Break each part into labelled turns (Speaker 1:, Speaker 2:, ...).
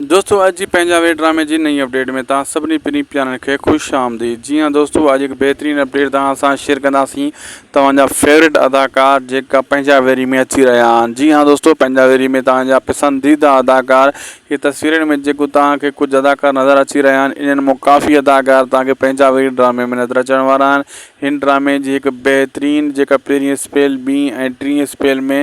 Speaker 1: دوستو اڄ جي پنهنجا وي ڊرامي جي نئين اپڊيٽ ۾ توهان سڀني پرين پيارن کي خوش آمديد جي ها دوستو اڄ هڪ بهترين اپڊيٽ توهان سان شيئر ڪنداسين توهان جا فيوريٽ اداڪار جيڪا پنهنجا ويري ۾ اچي رهيا آهن جي ها دوستو پنهنجا ويري ۾ توهان جا پسنديده اداڪار هي تصويرن ۾ جيڪو توهان کي ڪجهه اداڪار نظر اچي رهيا آهن انهن مون ڪافي اداڪار توهان کي پنهنجا ويري ڊرامي ۾ نظر اچڻ وارا آهن هن ڊرامي جي هڪ بهترين جيڪا پهرين اسپيل ٻين ۽ ٽين اسپيل ۾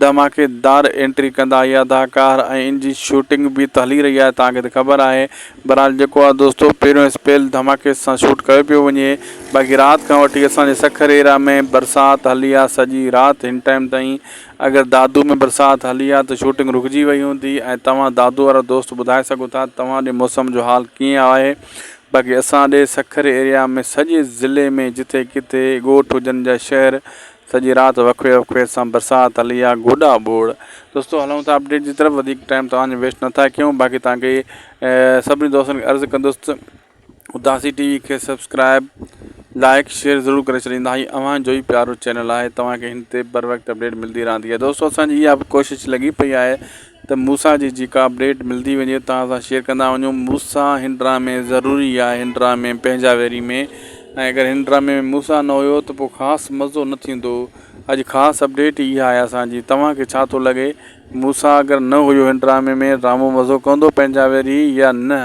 Speaker 1: ڌماڪيدار انٽري ڪندا اهي اداڪار ۽ ان جي شوٽنگ به ته هلي رهي آهي توهان کي ته خبر آهي بهرحال جيڪو آهي دوستو پهريون اسپيل ڌماڪي سان شوٽ ڪيو پيو وڃي باقي رات کان وٺي اسان جي سکر ايريا ۾ برسات هلي آهي سڄي رات هن ٽائيم تائين اگر دادو ۾ برسات هلي آهي ته شوٽنگ رڪجي وئي هوندي ۽ توهان دادو وارا دوست ٻڌائي سگهو ٿا ته توهان ڏي موسم جو حال ڪيئن آهي باقي اسان ڏي سکر ايريا ۾ سڄي ضلعي ۾ جتي ڪٿي ڳوٺ هجن جا شهر سڄي رات وکوي وکوي سان برسات هلي آ گوڏا ٻوڙ. دوستو هلون ٿا اپڊيٽ جي طرف وڌيڪ ٽائيم توهان جو ويسٽ نه ٿا ڪيون باقي توهان کي سڀني دوستن کي عرض ڪندس ته اداسي ٽي وي کي سبسڪرائب لائڪ شيئر ضرور ڪري ڇڏيندا هي اوهان جو ئي پيارو چينل آهي توهان کي هن تي بر وقت اپڊيٽ ملدي رهندي آهي دوستو اسان جي اها به ڪوشش لڳي پئي آهي ته موسيٰ جي جيڪا اپڊيٽ ملدي وڃي توهان سان شيئر ڪندا وڃون موسيٰ هن ڊرامي ضروري آهي هن ڊرامي پنهنجا ويري ۾ ۽ اگر هن ڊرامي ۾ موسيٰ نه هيو ته پوء خاص مزو نه ٿيندو اڄ خاص اپڊيٽ ئي اها آهي اسان جي توهان کي ڇا ٿو لڳي موسيٰ اگر نه هيو هن ڊرامي ۾ ڊرامو مزو ڪندو پنهنجا ويري يا نه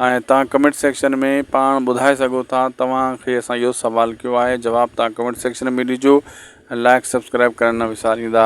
Speaker 1: ۽ توهان ڪمينٽ سيڪشن ۾ پاڻ ٻڌائي سگهو ٿا توهان کي اسان اهو سوال ڪيو آهي جواب توهان ڪمينٽ سيڪشن ۾ ڏجو لائڪ سبسڪرائب ڪرڻ نه وساريندا.